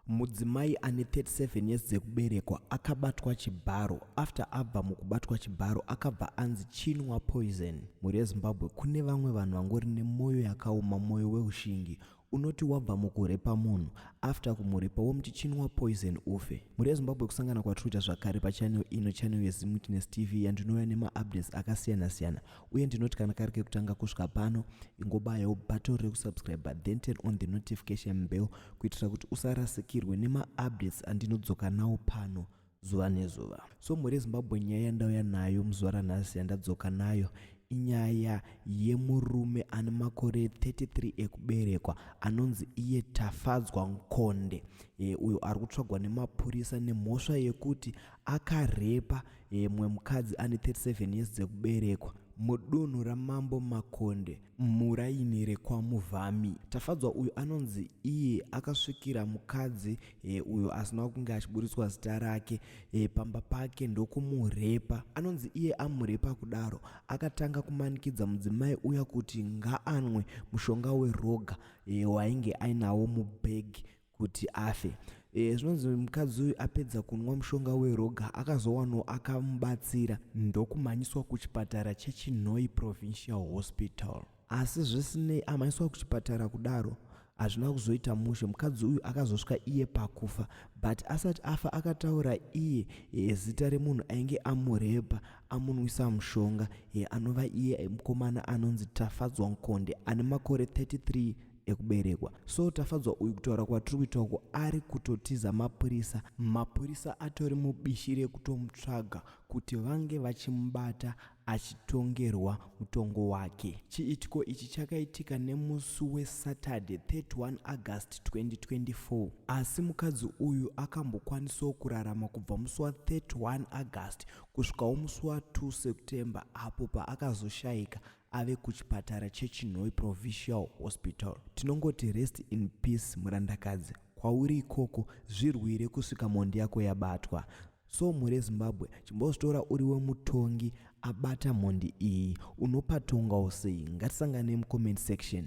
Mudzimai ane 37 years dzekuberekwa akabatwa chibharo. After abva mukubatwa chibharo akabva anzi chinwa poison. Mhuri yeZimbabwe kune vamwe vanhu vangori nemoyo yakaoma moyo weushingi unoti wabva mukurepa munhu after kumurepa womuti chinwa poison ufe mhuri yezimbabwe kusangana kwatiri kuita zvakare pachanel ino chanel yezimutiness tv yandinouya nemaupdates akasiyana-siyana uye ndinoti kana kari kekutanga kusvika pano ingobayawo button rekusubscribe then turn on the notification bell kuitira kuti usarasikirwe nemaupdates andinodzoka nawo pano zuva nezuva so mhuri yezimbabwe nyaya yandauya nayo muzuva ranhasi yandadzoka nayo inyaya yemurume ane makore 33 ekuberekwa anonzi iye tafadzwa nkonde e, uyo ari kutsvagwa nemapurisa nemhosva yekuti akarepa Mumwe mukadzi ane 37 years dzekuberekwa mudunhu ramambo makonde muraini rekwamuvhami tafadzwa uyu anonzi iye akasvikira mukadzi e, uyo asina kunge achiburitswa zita rake e, pamba pake ndokumurepa anonzi iye amurepa kudaro akatanga kumanikidza mudzimai uya kuti ngaanwe mushonga weroga e, wainge ainawo mubhegi kuti afe e, zvinonzi mukadzi uyu apedza kunwa mushonga weroga akazowanawo akamubatsira ndokumhanyiswa kuchipatara chechinhoi provincial hospital asi zvisinei amhanyiswa kuchipatara kudaro hazvina kuzoita mushe mukadzi uyu akazosvika iye pakufa but asati afa akataura iye e, zita remunhu ainge amurepa amunwisa mushonga e, anova iye mukomana anonzi tafadzwa nkonde ane makore 33 ekuberekwa so tafadzwa uyu kutaura kwatiri kuita uko ari kutotiza mapurisa mapurisa atori mubishi rekutomutsvaga kuti vange vachimubata achitongerwa mutongo wake chiitiko ichi chakaitika nemusi wesaturday 31 august 2024 asi mukadzi uyu akambokwanisawo kurarama kubva musi wa31 august kusvikawo musi wa2 september apo paakazoshayika ave kuchipatara chechinhoyi provincial hospital tinongoti rest in peace murandakadzi kwauri ikoko zvirwire kusvika mhondi yako yabatwa so mhuri yezimbabwe chimbozvitora uri wemutongi abata mhondi iyi unopatongawo sei ngatisanganei mucomment section